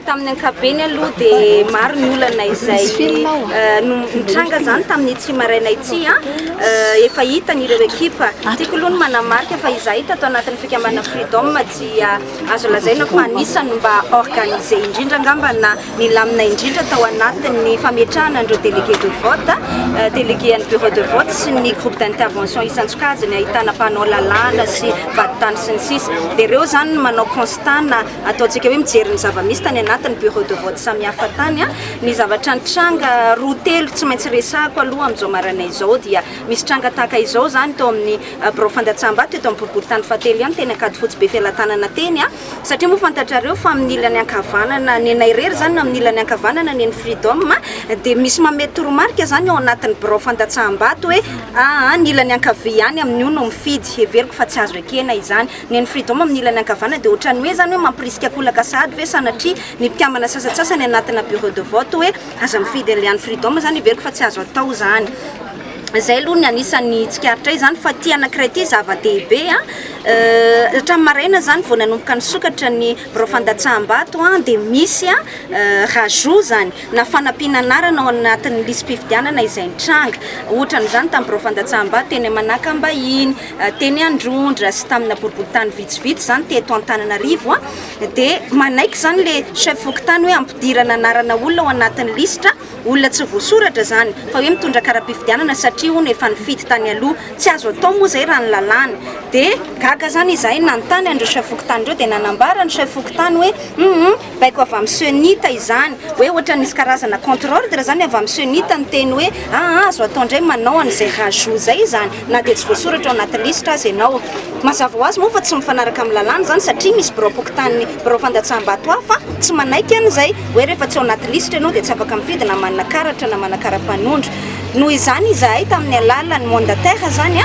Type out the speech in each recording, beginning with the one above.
Tamin'ny ankapobeny aloha dia maro ny olana izay nitranga izany tamin'ity maraina ity. Efa hitany ireo ekipa. Tiako aloha ny manamarika fa izahay tato anatin'ny fikambanana Freedom dia azo lazaina fa anisan'ny mba organisé indrindra angamba na Nilamina indrindra tao anatin'ny fametrahana an'ireo délégués de vote, délégués an'ny bureau de vote sy ny groupe d'intervention isan-tsokajiny ahitana mpanao lalàna sy vadintany sy ny sisa Dia ireo izany no manao constat na ataontsika hoe mijery ny zava-misy tany anatin'ny bureau de vote samihafa tany Ny zavatra nitranga roa telo tsy maintsy resahako aloha amin'izao maraina izao dia misy tranga tahaka izao izany tao amin'ny birao fandatsaham-bato eto amin'ny boriborintany fahatelo ihany teny Ankadifotsy Befelatanana teny Satria moa fantatrareo fa amin'ny ilany ankavanana, nenay irery izany no amin'ny ilany ankavanana, neny Freedom, dia misy mamehy toromarika izany ao anatin'ny birao fandatsaham-bato hoe aa ny ilany ankavia ihany amin'io no mifidy. Heveriko fa tsy azo ekena izany. Neny Freedom amin'ny ilany ankavanana dia ohatran'ny hoe izany hoe mampirisika an-kolaka sahady ve sanatria ny mpikambana sasantsasany anatina bureau de vote hoe aza mifidy an'ilay an'i Freedom izany. Heveriko fa tsy azo atao izany. Izay aloha ny anisan'ny tsikaritra ahy izany fa ity anankiray ity zava-dehibe. Hatramin'ny maraina izany vao nanomboka nisokatra ny birao fandatsaham-bato dia misy rajout izany na fanampiana anarana ao anatin'ny lisi-pifidianana izay nitranga. Ohatra amin'izany tamin'ny birao fandatsaham-bato teny Manakambahiny, teny Androndra sy tamina boriborintany vitsivitsy izany teto Antananarivo dia manaiky izany ilay chef fokontany hoe ampidirana anarana olona ao anatin'ny lisitra. Olona tsy voasoratra izany fa hoe mitondra karapifidianana satria hono efa nifidy tany aloha. Tsy azo atao moa izay raha ny lalàna. Dia gaga izany izahay nanontany an'ireo chef fokontany ireo dia nanambara ny chef fokontany hoe humm baiko avy amin'ny Cenit izany. Hoe ohatran'ny misy karazana contre ordre izany avy amin'ny Cenit niteny hoe aa azo atao indray manao an'izay rajout izay izany. na dia tsy voasoratra ao anaty lisitra aza ianao. Mazava ho azy moa fa tsy mifanaraka amin'ny lalàna izany satria misy biraom-pokontanin'ny birao fandatsaham-bato hafa tsy manaiky an'izay hoe rehefa tsy ao anaty lisitra ianao dia tsy afaka mifidy na manana karatra na manana kara-panondro. Noho izany izahay tamin'ny alalan'ny mandataire izany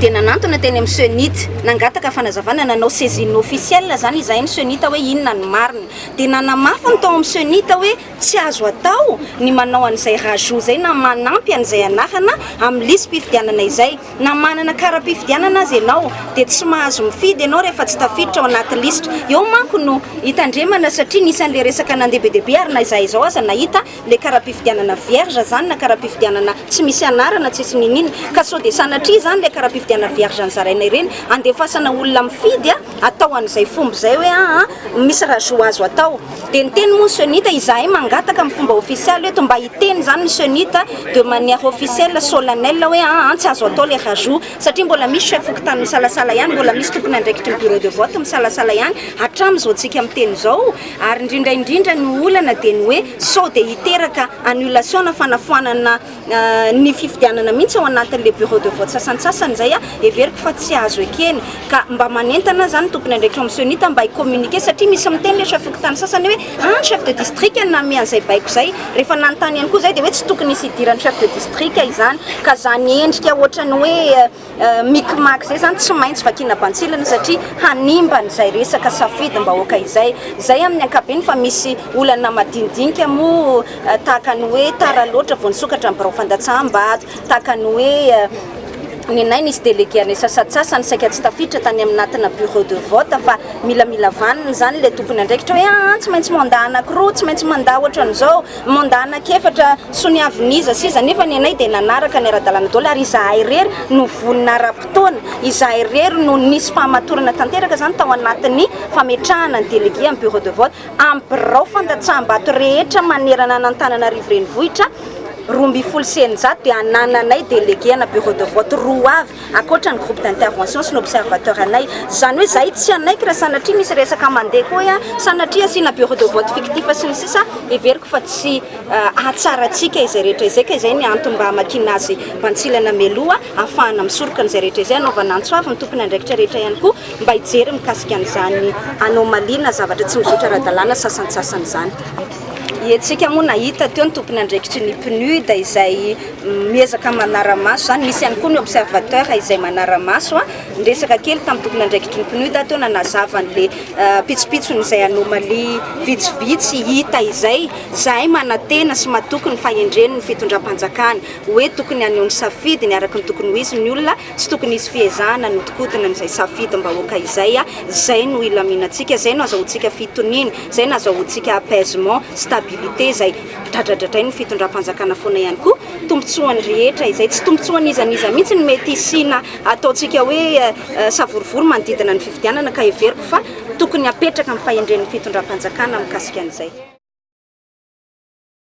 dia nanantona teny amin'ny CENIT, nangataka fanazavana, nanao saisine officielle izany izahay ny CENIT hoe inona ny marina. Dia nanamafy ny tao amin'ny CENIT hoe. Tsy azo atao ny manao an'izay rajout izay na manampy an'izay anarana amin'ny lisi-pifidianana izay. Na manana kara-pifidianana aza ianao dia tsy mahazo mifidy ianao rehefa tsy tafiditra ao anaty lisitra. Eo manko no. Hitandremana satria nisy an'ilay resaka nandeha be dia be ary na izahay izao aza nahita ilay kara-pifidianana vierge izany na kara-pifidianana tsy misy anarana tsisy n'inon'inona. Ka sao dia sanatria izany ilay kara-pifidianana vierge nozaraina ireny handefasana olona mifidy atao an'izay fomba izay hoe aa misy rajout azo atao dia niteny moa ny cenit izahay mangataka amin'ny fomba ofisialy eto mba hiteny izany ny cenit de manière officielle solennelle hoe aa tsy azo atao ilay rajout satria mbola misy chef fokontany misalasala ihany mbola misy tompon'andraikitry ny bureau de vote misalasala ihany hatramin'izao antsika miteny izao ary indrindra indrindra ny olana dia ny hoe sao dia hiteraka annulation na fanafoanana Ny fifidianana mihitsy ao anatin'ilay bureau de vote sasantsasany izay heveriko fa tsy azo ekena. Ka mba manentana izany ny tompon'andraikitra ao amin'ny Cenita mba hi-communiquer satria misy miteny ilay chef fokontany sasany hoe an chef de district no nanome an'izay baiko izay. Rehefa nanontany ihany koa izay dia hoe tsy tokony hisy hidiran'ny chef de district izany ka izany endrika ohatran'ny hoe Micmac izay zany tsy maintsy vakiana bantsilana satria hanimba an'izay resaka safidim-bahoaka izay. Izay amin'ny ankapobeny fa misy olana madinidinika moa tahaka ny hoe tara loatra vao nisokatra ny birao fandatsaham-bato, tahaka ny hoe nenay nisy delege anay sasantsasany saika tsy tafiditra tany anatina bureau de vote fa milamila vaniny izany ilay tompon'andraikitra hoe aa tsy maintsy mandat anankiroa, tsy maintsy mandat ohatran'izao. Mandat anak'efatra soniavin'iza sy iza nefa ny anay dia nanaraka ny ara-dalàna daholo ary izahay irery no vonona ara-potoana, izahay irery no nisy fahamatorana tanteraka izany tao anatin'ny fametrahana ny délégué amin'ny bureau de vote amin'ny birao fandatsaham-bato rehetra manerana an'Antananarivo renivohitra roa ambin'ny folo sy eninjato dia anananay délégué ana bureau de vote roa avy Ankoatra ny groupe d'intervention sy ny observateur anay. Izany hoe izahay tsy hanaiky raha sanatria misy resaka mandeha koa hoe sanatria asiana bureau de vote fictif sy ny sisa Heveriko fa tsy hahatsarantsika izay rehetra izay ka izay ny antony mba hamakiana azy bantsilana mialoha ahafahana misoroka an'izay rehetra izay hanaovana antso avo ny tompon'andraikitra rehetra ihany koa mba hijery mikasika an'izany anomalie na zavatra tsy mizotra ara-dalàna sasantsasany izany. Iantsika moa nahita teo ny tompon'andraikitry ny PNUD izay. miezaka manara-maso izany, misy ihany koa ny observateur izay manara-maso ny resaka kely tamin'ny tompon'andraikitry ny PNUD ato nanazava an'ilay pitsopitsony izay anomalie vitsivitsy hita izay, izahay manantena sy matoky ny fahendren'ny fitondram-panjakana hoe tokony haneho ny safidiny araka ny tokony ho izy ny olona, tsy tokony hisy fiezahana hanodikodina izay safidim-bahoaka izay, izay no hilaminantsika, izay no azahoantsika fitoniana, izay no azahoantsika apaisement, stabilité izay. Dradradradrainy ny fitondram-panjakana foana ihany koa, tombontsoan'ny rehetra izay tsy tombontsoan'iza n'iza mihitsy no mety hisiana ataontsika hoe savorovoro manodidina ny fifidianana ka heveriko fa tokony hapetraka ny fahendren'ny fitondram-panjakana mikasika an'izay.